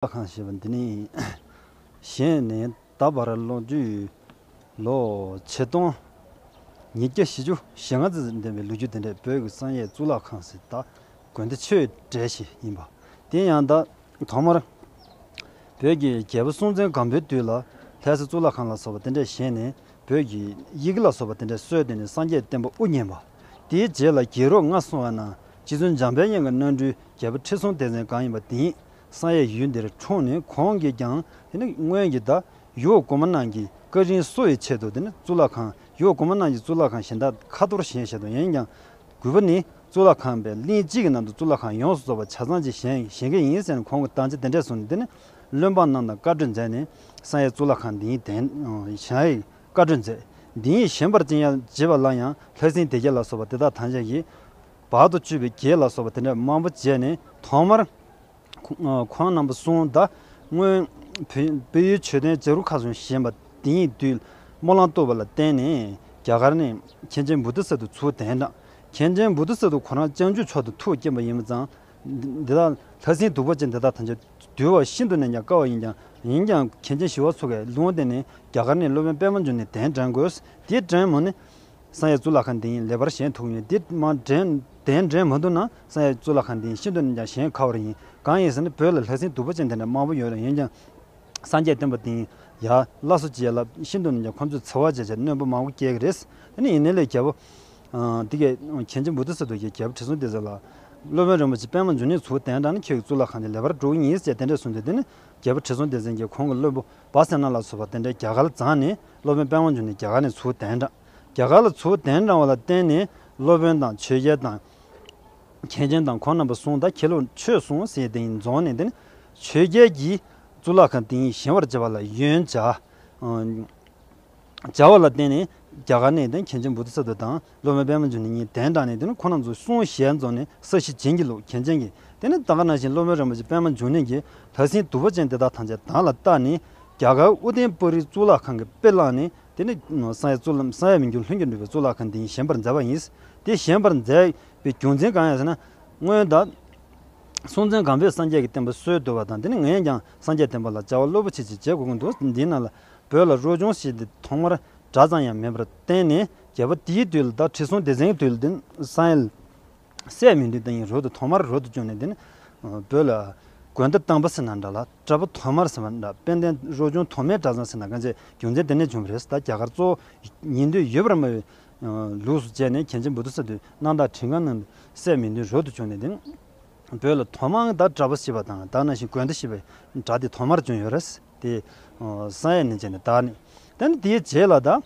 ལྟ་ཁང་ཞེས་པ་འདི་ནི་གཞན་ནས་ད་བར་ལོ་རྒྱུས་ལོ་ཆིག་སྟོང་ཉིས་བརྒྱ་བཞི་ཅུ་ཞེ་ལྔ་ཙམ་ལྡན་པའི་ལོ་རྒྱུས་དེ་འདྲའི་བོད་ཀྱི་བསམ་ཡས་གཙུག་ལག་ཁང་གཟི་བདག་དགོན་དེ་ཆོས་གྲལ་ཞིག་ཡིན་པ་དེ་ཡང་ད་ཐོག་མར་བོད་ཀྱི་རྒྱལ་པོ་སྲོང་བཙན་སྒམ་པོའི་དུས་ལ་ལྷས་ས་གཙུག་ལག་ཁང་ལ་སོགས་པ་དེ་འདྲས་བཞེངས་ནས་བོད་ཀྱི་ཡི་གེ་ལ་སོགས་པ་དེ་འདྲས་སྲོལ་དེ་ནི་སངས་རྒྱས་བསྟན་པ་དབུ་བརྙེས་པ་དེའི་རྗེས་ལ་རྒྱལ་རོགས་ལྔ་སོང་བའི་ནང་སྤྱི་མཚོན་འཇམ་དཔལ་གཡང་གི་སྣ་འབྲུའི་རྒྱལ་པོ་ཁྲི་སྲོང་ལྡེ་བཙན་སྒམ་ཡིན་པ་དེའི་སང་ཡའི་ཡུལ་འདིར་འཁྲུངས་ནས་ཁོང་གིས་ཀྱང་སྔོན་གྱི་ད་ཡོད་གོ་མ་ནང་གི་ཀ་རིན་གསོ་བའི་ཆེད་དུ་གཙུག་ལག་ཁང་ཡོད་གོ་མ་ནང་གི་གཙུག་ལག་ཁང་གཞན་དག་ཁ་ཐོར་གཞན་བཞེད་དོ་ཡིན་ཀྱང་གུས་པ་ནི་གཙུག་ལག་ཁང་པའི་གླིང་གཅིག་གི་ནང་དུ་གཙུག་ལག་ཁང་ཡོངས་སུ་རྫོགས་པ་ཆ་ཚང་གཅིག་བཞེངས་མཁན་ཡིན་ཟེར་ནས་ཁོང་གི་དང་ཆ་དེ་འདྲས་བཟུང་ནས་བློན་འབངས་རྣམས་དང་བཀའ་གྲོས་མཛད་ནས་སང་ཡའི་གཙུག་ལག་ཁང་འདིའི་གདན་བཞེངས་བཀའ་གྲོས་མཛད། འདིའི་བཞེངས་པར་ཅི་ཡང་བརྗེད་པ་ལ་ཡང་ལྷ་སྲིན་སྡེ་བརྒྱད་ལ་སོགས་པ་དེ་དག་དང་ཆ་གྱིས་བར་དུ་གཅོད་པའི་རྒྱས་ལ་སོགས་པ་དེ་འདྲ་མང་པོ་བྱས་ནས་ཐོག་མར། ཁོང་རྣམ་པ་གསུང་བདག་སྔོན། བོད་ཡུལ་ཆོས་ལྡན་བྱ་རུ་ཁ་ཟུང་བཞེངས་པ་དེ་ཉིད་དུས་སྨོན་ལམ་བཏུ་བ་ལ་བརྟེན་ནས་རྒྱ་གར་ནས་མཁན་ཆེན་བུ་དྷི་ས་ཏུ་ཚུལ་ལྡན་དྲངས། མཁན་ཆེན་བུ་དྷི་ས་ཏུ་ཁོ་རང་སྤྱང་ཆུའི་ཕྱོགས་དུ་ཐུགས་བསྐྱེད་པ་ཡིན་པ་ཙང། འདི་དག་ལྷ་སྲིན་གདུག་པ་ཅན་འདི་དག་ཐམས་ཅད་འདུལ་བ་ཤིན་ཏུ་ནས་ཀྱང་དཀའ་བ་ཡིན་ཀྱང་ཡིན་ཀྱང་མཁན་ཆེན་ཞི་བ་འཚོ་གས་ལུང་བསྟན་ནས་རྒྱ་གར་ནས་སློབ་དཔོན་པད་མ་འབྱུང་ནས་གདན་དྲངས་དགོས་དེ་དྲན་མོ་ནི། བསམ་ཡས་གཙུག་ལག་ཁང་དེ་ཡིན་ལེ་བར་གཞན་དུག་ཡིན་འདི་མ་འདྲེན་དེ་འདྲེན་མ་འདུག་ན་བསམ་ཡས་གཙུག་ལག་ཁང་དེ་ཡིན་ཤིན་ཏུ་ནས་ཀྱང་གཞན་ཁ་བར་ཡིན་གང་ཡིན་ཟེར་ན་བོད་ལ་ལྷ་སྲིན་སྡུག་པོ་ཅན་དེ་འདྲ་མང་པོ་ཡོད་རེད་ཡིན་ཀྱང་སངས་རྒྱས་བསྟན་པ་དེ་ཡིན་ཡ་བླ་སོ་བྱས་ལ་ཤིན་ཏུ་ནས་ཀྱང་ཁོང་ཚོས་འཚེ་བ་བྱས་བྱས་རྣོན་པོ་མང་པོ་སྐྱེ་གི་རེད་ད་ནི་ཡིན་ནས་ལས་རྒྱལ་པོ། འདི་གས་གྱན་ཆེན་པོ་འདི་ཟེར་དུ་ཡི་གས་པོ་ཁྲི་སྲོང་ལྡེ་བཙན་ལ། སློབ་དཔོན་རིན་པོ་ཆེ་པད་མ་འབྱུང་གནས་ཚུལ་དེ་འདྲ་ནི་ཁྱོད་ཀྱི་གཙུག་ལག་ཁང་དེ་ལེ་བར་འགྲོ་གི་ཡིན་ཟེར་བྱས་དེ་འདྲས་གསུངས་ཏེ་འདི་ནི་རྒྱལ་པོ་ཁྲི་སྲོང་ལྡེ་བཙན་གྱིས་ཁོང་གི་སློབ་བུ། སྦ་སེ་ན་ལ་ཚུར་བ་དེ་འདྲའི་རྒྱ་གར་བརྫངས་ནས་སློབ་དཔོན་དཔལ་བང་ཆེན་དེ་རྒྱ་གར་ནས་ཚུར་གདན་དྲངས། རྒྱ་གར་ལ་ཚུར་གདན་དྲངས་བ་ལ་བརྟེན་ནས་སློབ་དཔོན་དང་ཆོས་རྒྱལ་དང། མཁན་ཆེན་དང་ཁོང་རྣམ་པ་སྲུང་ད་ཁྱེད་ལོ་ཆོས་བསྲུང་ཟེར་དེ་རྫོང་ནས་འདི་ནི་ཆོས་རྒྱལ་གྱིས་གཙུག་ལག་ཁང་དེ་ཉིད་བཞེངས་བར་བྱ་བ་ལ་ཡོན་བྱ། བྱ་བ་ལ་བརྟེན་ནས་རྒྱ་གར་ནས་དེང་གལ་ཆེན་བུ་ཏི་ས་ཏུ་དང་སློབ་མའི་པདྨ་འབྱུང་གནས་གཉིས་གདན་དྲངས་ནས་དེ་ནི་ཁོ་ན་ཚོ་སུའོ་ཞལ་རྫོགས་ནས་ས་གཞི་བྱིན་གྱིས་རློབས་གལ་ཆེན་གྱི་དེ་ནི་ད་ག་ན་བཞིན་སློབ་མའི་རིན་པོ་ཆེ་པདྨ་འབྱུང་གནས་ཀྱིས་ལྷ་སྲིན་དུ་བ་ཅན་དེ་དག་ཐམས་ཅད་དང་ལ་བཏགས་ནས་རྒྱ་གར་ཨུ་ཏན་པཱུ་རིའི་གཙུག་ལག་ཁང་གི་དཔེ་བླངས་ནས་དེ་ནི་ས་ཡ་གཙུག་ལམ་ས་ཡ་མི་འགྱུར་ལྷུན་གྱིས་འགྲུབ་པའི་གཙུག་ལག་ཁང་དེ་ཉིད་བཞེངས་པར་མཛད་པ་ཡིན། དེ་བཞེངས་པར་མཛད་པའི་རྒྱུ་མཚན་གང་ཡང་ཟེར་ན། སྔོན་བདག། སྲོང་བཙན་སྒམ་པོས་སངས་རྒྱས་ཀྱི་བསྟན་པ་སྲོལ་བཏོད་པ་དང་དེ་ནི་ངས་ཀྱང་སངས་རྒྱས་བསྟན་པ་ལ་བྱ་བ་རློབ་པོ་ཆེ་ཅིག་བྱེད་དགོས་ཀྱི་འདུག་འདིའི་ནང་ལ་བོད་ལ་རོལ་ཆུང་ཞེས་དེ་ཐོག་མར་སྒྲ་ཙམ་ཡང་མེད་པར་བརྟེན་ནས་རྒྱལ་པོ་དེའི་དུས་ལ་དྭགས་ཁྲི་སྲོང་ལྡེ་བཙན་གྱི་དུས་ལ་དེ་སང་ཡེ་སྲས་མི་འདུལ་དེ་ཡིན་རོལ་དུ་ཐོག་མར་རོལ་དུ་བཅུག་ནས་དེ་བོད་ལ་དགོན་འདི་བཏང་པ་ཟེར་ན་འདྲ་ལ་བཀྲ་པོ་ཐོག་མར་ཟེར་བ་འདྲ་དཔལ་ལྡན་རོལ་ཆུང་ཐོག་མའི་གྲྭ་ཚང་ཟེར་ན་དཀའ་མཆེད་རྒྱུ་མཚན་དེ་ནས་བྱུང་བ་རེད་ད་རྒྱ་གར་གཙོ་བོ་ཉིན་དུས་ཡོད་པར་སྨྲ་བའི་ལུགས་སུ་བྱས་ནས་མཁན་ཆེན་བུདྡྷ་ས་དུས་གནང་དྭགས་ཁྲི་སྒང་ན་དེ་སྲས་མི་འདུལ་རོལ་དུ་བཅུག་ནས་དེ་བོད་ལ་ཐོག་མར་དྭགས་བཀྲ་པོ་ཞེས་པ་དང་དྭགས་ན་ཞིང་དགོན་འདི་ཞེས་པའི་སྒྲ་དེ་ཐོག་མར་བྱུང་ཡོད་རེད། དེ། བསང་ཡས་ནི་བྱས་ནས་དག་ནས། དེ་ནི་དེའི་རྗེས་ལ་དག།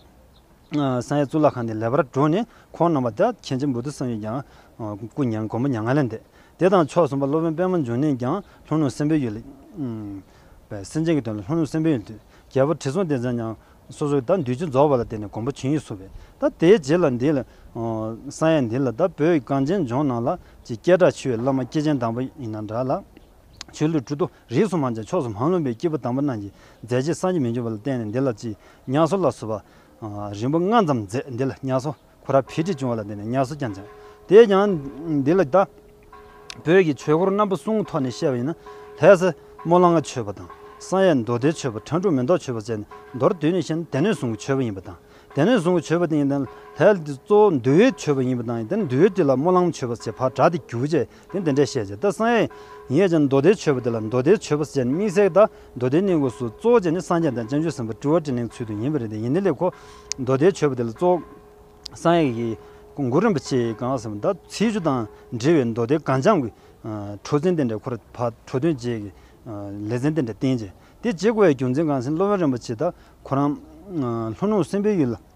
བསང་ཡས་གཙུག་ལག་ཁང་དེ་ལེགས་པར་བགྲོད་ནས་འཁོར་རྣམས་པ་དག་མཁྱེན་བྱེད་འབུལ་དུ་བསམ་ཡས་ཀྱང། སྐུ་མྱ་ངན་མགོན་པོ་མྱ་ངན་ལས་འདས། དེ་དང་མཆོག་གསུམ་པ་སློབ་དཔོན་པདྨ་འབྱུང་གནས་ཀྱང་ལྷུན་ནུ་སེམས་དཔའི་ཡུལ། པའི་སེམས་ཅན་གྱི་དོན་ལ་ལྷུན་ནུ་སེམས་དཔའི་ཡུལ་དུས་རྒྱལ་པོ་དྲི་བསུང་ལྡན་ཚང་ཉང། སོ་སོ་དག་འདུས་ཆུ་རྫོགས་པ་ལ་བརྟེན་ནས་མགོན་པོ་བྱིན་ཡིག་གསུངས་པས་དག་དེའི་རྗེས་ལ་འདི། བསང་ཡས་འདི་ལ་དག་བོད་གངས་ཅན་ལྗོངས་ནང་ལ། ཅེས་སྐད་གྲགས་ཆེ་བའི་བླ་མ་སྐྱེས་ཆེན་དང་པོ་ཡིན་ན་འདྲ་ལ། ཆོས་ལུགས་བཀྲུ་བསྡུ། རིས་སུ་མང་ཅིང་ཕྱོགས་སུ་མང་ལོན་པའི་སྐྱེས་བུ་དམ་པ་རྣམས་ཀྱིས་མཛད་རྗེས་སངས་རྒྱས་མི་འབྱུང་བ་ལ་བརྟེན་ནས་འདི་ལ་ཅི་ཉག་སོ་ལ་སོ་བ། རིང་པོ་སྔ་ཙམ་མཛད་འདི་ལ་ཉག་སོ་ཁོ་ར་བྷི་ཏྲི་བྱུང་བ་ལ་བརྟེན་ནས་ཉག་སོ་ཀྱང་སྦྱངས། དེས་ཀྱང། འདི་ལ་དང། བོད་ཀྱི་ཆོས་སྐོར་རྣམ་པ་གསུམ་ཐོག་ནས་བཤད་པ་ཡིན་ན། ལྷའི་སྲས་མོ་གླང་ག་ཆོས་པ་དང། བསམ་ཡས་མདོ་སྡེའི་ཆོས་པ་ཁྲ་འབྲུག་མེ་ཏོག་ཆོས་པ་བཅས་ནས་མདོར་བསྡུས་ནས་བཤད་ན་སྡེ་སྣོད་ཟུང་གི་ཆོས་པ་ཡིན་པ་དང། སྡེ་སྣོད་ཟུང་གི་ཆོས་པ་དེ་ཡིན་ལྷའི་གཙོ་བོ་འདུལ་བའི་ཆོས་པ་ཡིན་པ་དང་ཡིན་ཏེ་འདུལ་བའི་སྡེ་ལ་མོ་གླང་ཆོས་པ་ཞེས་བགྲ་དེ་གྱུར་བ་བཅས་དེ་འདི་འདྲས་བཤད་ཀྱི། ད་སངས་རྒྱས་ཀྱི་མདོ་སྡེའི་ཆོས་པ་དེ་ལ་མདོ་སྡེའི་ཆོས་པ་སེ་བྱས་ནས་དམིགས་བསལ་གདའ། མདོ་སྡེའི་སྙིང་པོ་སུ་གཙོ་བོ་བྱས་ནས་སངས་རྒྱས་དང་བྱང་ཆུབ་སེམས་དཔའ་སྤྲུལ་བ་ཏྲི་ལིང་ཚུལ་དུ་ཡིན་པ་རེད་དེ་ཡིན་ནི་ལེགས་ཁོ། མདོ་སྡེའི་ཆོས་པ་དེ་ལ་གཙོ་བོ་སངས་རྒྱས་ཀྱི་མགུར་རིན་པོ་ཆེ་ཡི་གང་ཟེར་བ་དང་ཚིག་བཅུ་དང་འབྲེལ་བའི་མདོ་སྡེ་གངས་ལྗང་གི་ཁྲོ་ཚན་དེ་འདྲས་ཁོ་ར་བ་ཁྲོ་སྟོན་རྗེས་ཀྱི་ལེ་ཚན་དེ་འདྲས་བསྟན་ཅིང་དེ་རྗེས་གོ་བའི་རྒྱུ་མཚན་གང་ཟེར་ན་སློབ་དཔོན་རིན་པོ་ཆེ་དག་ཁོ་རང་ལྷོ་ནུབ་སེམས་དཔའི་ཡུལ་ལ།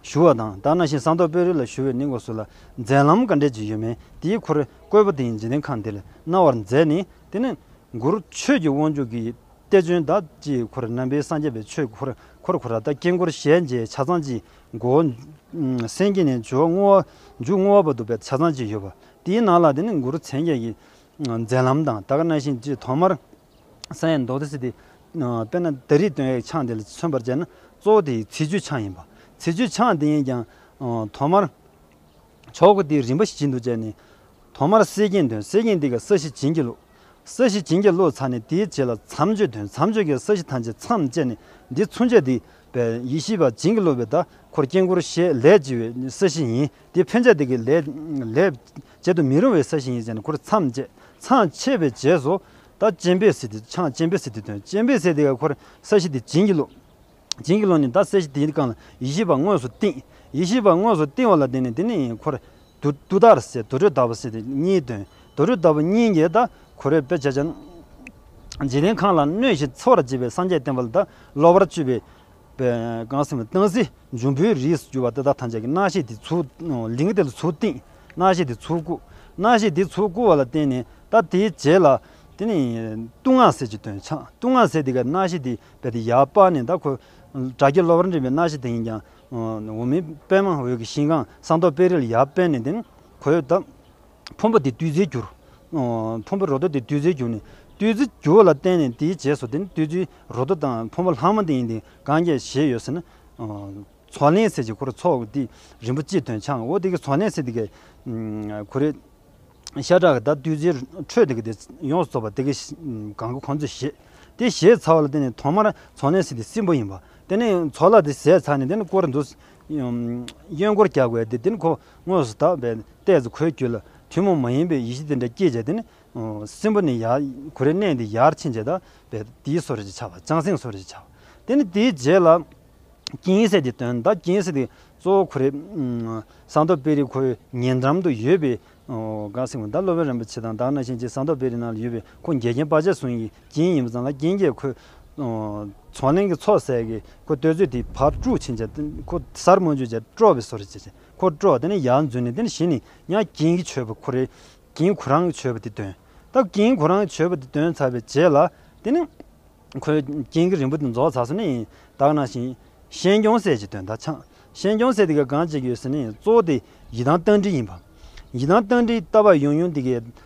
ཞུ་བ་དང་སྦྲགས་ན་ཤིང་བཟང་ཐོག་དཔོན་རིགས་ལ་ཞུ་བའི་ནི་ངོ་སོ་ལ་མཛད་ལམ་ག་འདྲས་ཀྱི་ཡོད་མེད་དེའི་འཁོར་བསྐོས་པ་དེ་ཡིན་འཇིག་རྟེན་ཁམས་འདི་ལ་སྣང་བར་མཛད་ནས་དེ་ནི་མགུར་ཆོས་ཀྱི་དབང་ཕྱུག་གི་གཏེར་བྱོན་བདག་ཅེས་འཁོར་རྣམ་པའི་སངས་རྒྱས་པའི་ཆོས་འཁོར་འཁོར་བར་ད་ལྟ་དཀྱིལ་འཁོར་ཞལ་མཇལ་ཆ་ཚང་གཅིག་མགོ་བོ་སེང་གེ་ནས་འཇོག་བསྔོ་བ་མཇུག་བསྔོ་བ་བར་འདུག་པའི་ཆ་ཚང་གཅིག་ཡོད་པ་དེའི་ནང་ལ་དེ་ནི་མགུར་མཚན་བརྒྱད་ཀྱི་མཛད་ལམ་དང་ད་ག་ན་ཤིང་ཅེས་ཐོག་མར། ས་ཡི་མདོག་དེ་སྲིད་དེ། དཔེར་ན་དལ་རིགས་སྟོན་ཡིག་ཆང་དེ་ལ་མཚོན་པར་བྱས་ན་གཙོ་བོ་དེ་ཡི་ཚིག་བརྗོད་ཆང་ཡིན་པ། ཚིག་བརྗོད་ཆང་དེ་ཡིན་ཀྱང། ཐོག་མར། ཆོག་གི་དེའི་རིམ་པ་ཞིག་བྱིན་དུ་བཅས་ནས། ཐོག་མར་སྲེད་ཀྱིན་དོན་སྲེད་ཀྱིན་དེ་ག་ས་གཞི་བྱིན་གྱིས་བླུགས། ས་གཞི་བྱིན་གྱིས་བླུགས་ཚར་ནས་དེའི་རྗེས་ལ་མཚམས་གཅོད་དོན་མཚམས་གཅོད་ཀྱི་ས་གཞི་ཐམས་ཅད་མཚམས་བཅད་ནས་འདི་མཚུངས་བྱས་དེ་པའི་ཡེ་ཤེས་པ་བྱིན་གྱིས་བླུགས་པའི་བརྡ་འཁོར་དཀྱིལ་འཁོར་ཞེས་ལས་བྱེད་པའི་ས་གཞི་ཡིན་དེ་ཕན་ཆད་དེ་གའི་ལས། བྱེད་དུ་མི་རུང་བའི་ས་གཞི་ཡིན་ཅེས་ནས་འཁོར་མཚམས་བཅད་ཚངས་ཕྱེད་པའི་རྗེས་སུ། ད་སྤྱན་པའི་སི་ཏི་འཆང་སྤྱན་པའི་སི་ཏི་དོན་སྤྱན་པའི་སེ་ཏི་ཀ་འཁོར་ས་གཞི་དེ་བྱིན་གྱིས་རློབས། བྱིན་གྱིས་རློབས་ནས་ད་སེ་གཞི་དེ་བཀང་ལ་ཡེ་ཤེས་པ་དངོས་སུ་བསྟིམ། ཡེ་ཤེས་པ་དངོས་སུ་བསྟིམ་བ་ལ་དེ་ནས་དེ་ནས་འཁོར། དུ་དུ་དར་སེ་དུར་ཁྲོད་དར་བ་སི་ཏི་གཉིས་དོན་དུར་ཁྲོད་དར་བ་གཉིས་ཀྱིས་ད་གུ་རུའི་དཔེ་བྱད་ཅན། འཇིག་རྟེན་ཁམས་ལ་གནོད་བྱེད་འཚེ་བར་བྱེད་པའི་སངས་རྒྱས་བསྟན་པ་ལ་ད་སློབ་པར་སྤྱོད་པའི། གང་སེམས་བཏང་སི། འབྱུང་པོའི་རིས་སུ་གྱུར་པ་འདི་དག་ཐམས་ཅད་ཀྱི་སྣ་ཞེས་དེ་ཚུལ་ལིང་དེ་ལ་ཚུལ་བསྟན། སྣ་ཞེས་དེ་ཚུལ་བཀུག། སྣ་ཞེས་དེ་ཚུལ་བཀུག་བ་ལ་བརྟེན་ནས་ད་དེའི་རྗེས་ལ། དེ་ནི། ལྟུང་བསྔགས་ཟས་ཀྱི་དོན་འཆང་ལྟུང་བསྔགས་ཟས་དེ་གའི་སྣ་ཞེས་དེ་པས་དེ་ཡར་སྤགས་ནས་ད་ཁོ། དགྲ་བགེགས་སློབ་པར་འདྲེན་པའི་སྣ་ཞེས་དེ་ཡིན་ཀྱང། འོག་མིན་པདྨ་འོད་ཀྱི་ཤིང་ཁང་ས་མདོག་དཔལ་རི་ལ་ཡར་སྤས་ནས་དེ་ནི། གོས་དག། ཕུང་པོ་དེ་བདུད་རྩིར་གྱུར། ཕུང་པོའི་རོ་དོ་དེ་བདུད་རྩིར་གྱུར་ནས། བདུད་རྩི་རྒྱུ་བ་ལ་བརྟེན་ནས་དེའི་རྗེས་སུ་དེ་ནི་བདུད་རྩིའི་རོ་དོ་དང་ཕུང་པོ་ལྷག་མ་དེ་ཡིན་ཏེ་གང་སྐྱེས་བཞེས་ཡོད་ཟེར་ན། ཚོགས་ལན་བསྲེས་ཀྱི་གུ་རུ་ཚོགས་ཀྱི་རིན་པོ་ཆེའི་དོན་འཆང་ངོ། དེ་གའི་ཚོགས་ལན་བསྲེས་དེ་གའི་གུ་རུའི་ཤ་ཁྲག་གི་དང་བདུད་རྩིའི་འཕྲོས་དེ་ག་དེ་ཡོངས་སུ་རྫོགས་པ་དེ་གའི་གང་གི་གོ་འཛོལ་བཞེས། དེ་བཞེས་ཚར་བ་ལ་བརྟེན་ནས་ཐོག་མར་ཚོགས་ལན་བསྲེས་དེ་སྲིན་པོ་ཡིན་པ། དེ་ནས་ཚོགས་ལ་དེ་བཞེས་ཚར་ནས་དེ་ནི་བསྐོར་འདུག་གཡོན་སྐོར་བརྒྱག་དགོས་ཏེ་དེ་ནི་གོ། དངོས་སུ་དག་པའི་ལྟས་སུ་གོས་བསྐྱུར་ལ་ཐུན་མོང་མ་ཡིན་པའི་ཡེ་ཤེས་དེ་འདྲ་བསྐྱེད་བྱས་ཏེ་ནི། སྲིན་པོ་ནི་ཡང་གུ་རུའི་གནས་འདི་ཡར་ཕྱིན་བྱེད་དག་པའི་དེའི་སོར་ཞེས་བྱ་བ་བྱང་སེམས་སོར་ཞེས་བྱ་བ། དེ་ནི་དེའི་རྗེས་ལ། སྐྱིན་སེ་དེ་དོན་དག་སྐྱིན་སེ་དེ་གཙོ་བོ་གུ་རུའི་ཟངས་མདོག་དཔལ་རིའི་ཁོ་བོའི་ཉེ་འགྲམ་དུ་ཡོད་པའི། གངས་སེང་བུ་ཟླ་སློབ་དཔོན་རིན་པོ་ཆེ་དང་དྭགས་ན་གཤེན་བཅས་ཟངས་མདོག་དཔལ་རིའི་ནང་ལ་ཡོད་པའི་ཁོང་འགལ་རྐྱེན་དཔའ་ཆེན་ཟུང་ཡིས་རྒྱན་ཡིན་པ་ཙམ་ལ་རྒྱན་རྒྱས་ཁོས། ཚོང་གླིང་གི་ཚོགས་ཟས་ཀྱིས་ཁོ་བསྟོད་ཚོད་དེའི་བར་དཀྲུགས་ཕྱིན་བྱས། ཁོ་གཟར་རྨོ་འཇུག་བྱས་དཀྲོགས་པའི་སོ་རེ་བྱས། ཁོ་དཀྲོགས་དེ་ནས་ཡར་འཛུལ་ནས་དེ་ནས་གཞི་ནས་ཡང་རྒྱན་གྱིས་མཆོད་པ་ཁོ་རེ། རྒྱན་ཁོ་རང་གིས་མཆོད་པ་དེ་འདོན། སྟབས་རྒྱན་ཁོ་རང་གིས་མཆོད་པ་དེ་འདོན་ཚར་བའི་རྗེས་ལ། དེ་ནས། ཁོས་རྒྱན་གྱི་རིན་པོ་དེ་རྫོགས་ཚར་སོང་ནས། ཡིན་བདག་ན་བཞིན། ཤན་སྐྱོང་ཟས་ཀྱི་དོན་དག་འཆང། ཤན་སྐྱོང་ཟས་དེ་གའི་གང་བྱེད་ཀྱི་ཡོད་ཟེར་ནས་གཙོ་བོ་དེ་ཡི་དམ་རྟ་མགྲིན་ཡིན་པ། ཡི་དམ་རྟ་མགྲིན་ལྟ་བ་ཡང་ཡང་འདི་གའི་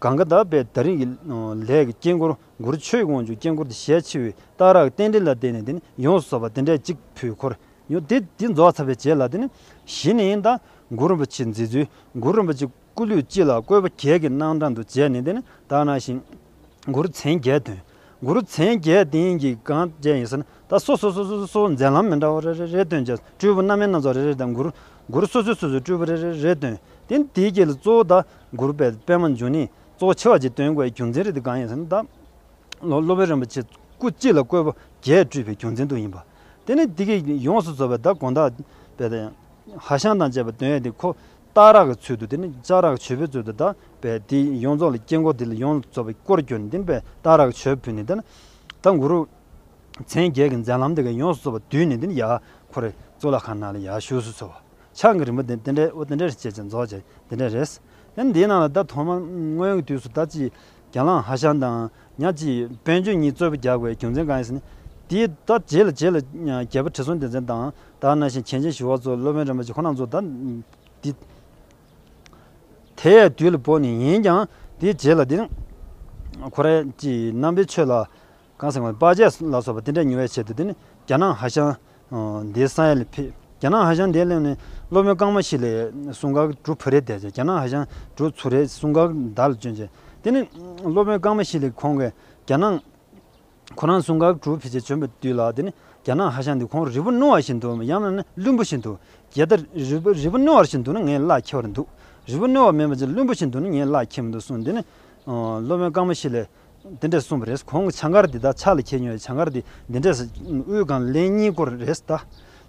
གང་གི་དག་པའི་ད་རིང་གི་ལས་ཀྱི་དཀྱིལ་འཁོར་མགུར་ཆོས་ཀྱི་དབང་ཕྱུག་དཀྱིལ་འཁོར་དུ་ཞལ་ཕྱེ་བའི་རྟགས་རགས་རྟེན་འབྲེལ་ལ་བརྟེན་ནས་དེ་ནི་ཡོངས་སུ་སོགས་པ་དེ་འདྲའི་གཅིག་པུའི་འཁོར་ཡང་དེ་དེ་རྫོགས་ཚར་བའི་རྗེས་ལ་དེ་ནི་གཞི་ནི་ཡིན་དང་མགུར་རིན་པོ་ཆེའི་མཛད་ཚུལ་མགུར་རིན་པོ་ཆེ་སྐུ་ལུས་སྤྱི་ལ་བཀོད་པ་གྱད་ཀྱི་སྣང་གྲངས་དུ་བྱས་ནས་དེ་ནི་དག་སྣང་ཞིང། མགུར་མཚན་བརྒྱད་དོན་མགུར་མཚན་བརྒྱད་དེ་ཡིན་གྱི་གང་བཅས་ཡིན་ཟེར་ན་ད་སོ་སོ་སོ་སོའི་མཛད་ལམ་མི་འདྲ་བ་རེ་རེ་རེ་སྟོན་བྱས་སྤྲུལ་སྐུ་རྣམ་སྨིན་སྣ་ཚོགས་རེ་རེ་དང་མགུར་མགུར་སོ་སོའི་སོ་སོའི་སྤྲུལ་སྐུ་རེ་རེ་རེ་སྟོན་ཏེ་འདིའི་རྗེས་ལ་གཙོ་བོ་དག་མགུར་པའི་དཔེ་མ་འཇུག་ནི་གཙོ་བོ་ཆེ་བ་གཅིག་སྟོན་དགོས་པའི་རྒྱུ་མཚན་རེད་དེ་གང་ཡིན་ཟེར་ན། ད་ལོར་སློབ་དཔོན་རིན་པོ་ཆེ་སྐུ་གཅིག་ལ་བཀོད་པ་བརྒྱད་སྤྲུལ་པའི་རྒྱུ་མཚན་དུ་ཡིན་པ། དེ་ནི་ཏི་ཀེ་ཡོངས་སུ་ཚོལ་བའི་བདག་དགོངས་དག་པའི་དེ། ཧ་ཤང་དང་བཅས་པའི་དོན་ཡོད་དེ་ཁོ། སྟག་རག་གི་ཚུལ་དུ་དེ་ནི་ལྕགས་རག་གི་བྱོལ་བུའི་ཚུལ་དུ་དག་པས་དེ་ཡོངས་རྫོགས་ལ་དཀྱིལ་འཁོར་དེ་ལ་ཡོངས་སུ་ཚོལ་བའི་སྐུར་གྱུར་ནས་དེ་ནི་པས་སྟག་རག་གི་བྱོལ་བུ་ནི་དེ། ད་མགུར། མཚན་བརྒྱད་ཀྱི་མཛད་ལམ་དེ་ག་ཡོངས་སུ་ཚོལ་བ་བསྡུས་ནས་དེ་ནི་ཡ། ཁོ་རེ། གཙུག་ལག་ཁང་ནང་ལ་ཡ་བཞུགས་སུ་ཚོལ་བ། ཆང་གི་རིན་པོ་དེ་འདི་འདྲའི་དབུ་དེ་འདྲའི་རེད་ཅེས་ཀྱང་རྫོགས་ཀྱང་དེ་འདྲའི་རེད། ཡང་འདིའི་ནང་ལ་ད་ཐོག་མར་སྔོན་གྱི་དུས་སུ་ད་ཅིའི་རྒྱ་ལང་ཧ་ཤང་དང་ཉག་ཅིའི་བན་ཆོས་གཉིས་རྩོད་པོ་རྒྱག་པའི་རྒྱུ་མཚན་གང་ཡིན་ཟེར་ན། དེའི་ད་རྗེས་ལ་རྗེས་ལ་རྒྱལ་པོ་ཁྲི་སྲོང་ལྡེ་བཙན་དང་ད་རྣ་ཤིང་གྱེན་ཅན་ཞི་བ་ཚོ་སློབ་དཔོན་རིན་པོ་ཆེ་ཁོ་རྣམས་ཚོ་ད་འདི་དེའི་དུས་ལ་བོར་ནས་ཡིན་ཀྱང་དེའི་རྗེས་ལ་འདི་ཁོ་རེ་ཅིའི་རྣམ་པའི་ཆོས་ལ་ཀང་སེང་བ་པ་ཇའི་ལ་སོགས་པ་དེ་འདྲ་ཉུལ་བའི་ཆེད་དུ་དེ་ནི་རྒྱ་ནག་ཧ་ཤང་འདའི་ས་ཡ་ལས་ཕེབས། རྒྱ་ནག་ཧ་ཤང་འདའི་གླིང་ནི་སློབ་དཔོན་ཀང་མ་ཤི་ལའི་གསུང་འགག་གྲུ་བུ་རེ་དེ་རྒྱ་ནག་ཧ་ཤང་གྲུ་ཚུ་རེའི་གསུང་འགག་མདའ་ལ་བསྐྱོན་རྗེས་དེ་ནི་སློབ་དཔོན་ཀང་མ་ཤི་ལའི་ཁོང་གིས་རྒྱ་ནག་ཁོ་རང་གསུང་འགག་གྲུ་བུ་ཆེ་བྱོན་པའི་དུས་ལ་དེ་ནི་རྒྱ་ནག་ཧ་ཤང་འདི་ཁོང་རི་བོ་སྣུ་བ་བཞིན་དུ་ཡང་ན་ནི་བླུན་པོ་བཞིན་དུ་རྒྱལ་ད་རི་བོ་རི་བོ་སྣུ་བ་བཞིན་དུ་ནི་ངའི་བླ་འཁྱེར་བར་འདུག་རི་བོ་སྣུ་བ་མིན་པ་ཅི་བླུན་པོ་བཞིན་དུ་ནི་ངའི་བླ་འཁྱེར་མི་འདུག་གསུངས་དེ་ནི་སློབ་དཔོན་ཀང་མ་ཤི་ལའི་འདི་འདྲས་གསུངས་པ་རེད། གོང་གི་བྱང་སྐར་འདི་དག་ཕྱག་ལ་འཁྱེར་མྱོང་བའི་བྱང་སྐར་འདི་འདི་འདྲས། དབུས་སྒང་ལན་གཉིས་སྐོར་རེད་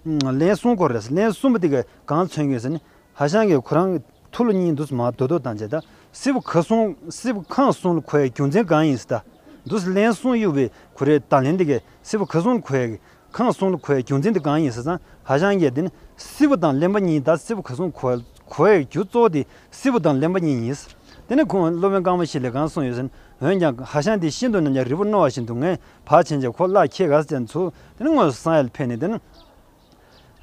ད། ལན་གསུམ་སྐོར་རེད། ལན་གསུམ་པོ་དེ་གང་མཚོན་མྱོང་ཟེར་ན། ཧ་ཤང་གི་ཁོ་རང་ཐུ་ལུ་གཉིས་འདུག་སྲིད་མ་རྡོ་རྡོ་དང་བཅས་ད། སྲིད་པོ་ཁ་སྲུང་སྲིད་པོ་ཁང་སྲུང་ལ་ཁོའི་རྒྱུ་མཚན་གང་ཡིན་སྲིད་ད། འདུག་སྲིད་ལན་གསུམ་གཡུག་པའི་ཁོ་རེད་ད་ལན་འདི་གའི་སྲིད་པོ་ཁ་སྲུང་ལ་ཁོའི། ཁང་སུང་ཁོའི་རྒྱུ་མཚན་དེ་གང་ཡིན་ཟེར་ཙང་ཧ་ཅང་ཡག་འདི་ནི་སི་བོ་དང་གླེན་པ་གཉིས་ད་སི་བོ་ག་སུང་ཁོའི་རྒྱུ་གཙོ་བོ་དེ་སི་བོ་དང་གླེན་པ་གཉིས་ཡིན། དེ་ནས་ཁོང་སློབ་དཔོན་རྐང་པ་ཞིག་ལས་གང་སོང་ཡོད་ཟེར། འོན་ཀྱང་ཧ་ཤང་དེ་ཤིན་ཏུ་ནམ་ཡང་རི་བོ་རྣོ་བ་བཞིན་འདུག་ངས་བག་ཆེན་གྱིས་ཁོ་གླགས་ཁྱེད་ག་ས་ཅན་ཚུགས་དེ་ནས་དངོས་སུ་སང་ཡལ་ཕེབས་ནས་དེ་ནི་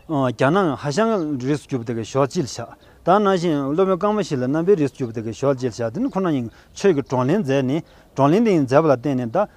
རྒྱ་ནག་ཧ་ཤང་རིས་སུ་གྱུར་པ་དེ་གའི་ཞོགས་དཔྱིད་ཞག་ད་ནང་བཞིན་སློབ་དཔོན་རྐང་པ་ཞིག་ལ་རྣམ་པའི་རིས་སུ་གྱུར་པ་དེ་གའི་ཞོགས་དཔྱིད་ཞག་དེ་ནི་ཁོ་རང་ཉིད་ཆོས་ཀྱི་བགྲོ་གླེང་མཛད་ནས་བགྲོ་གླེང་དེ་ཡིན་མཛད་པ་ལ་བརྟེན་ནས་ད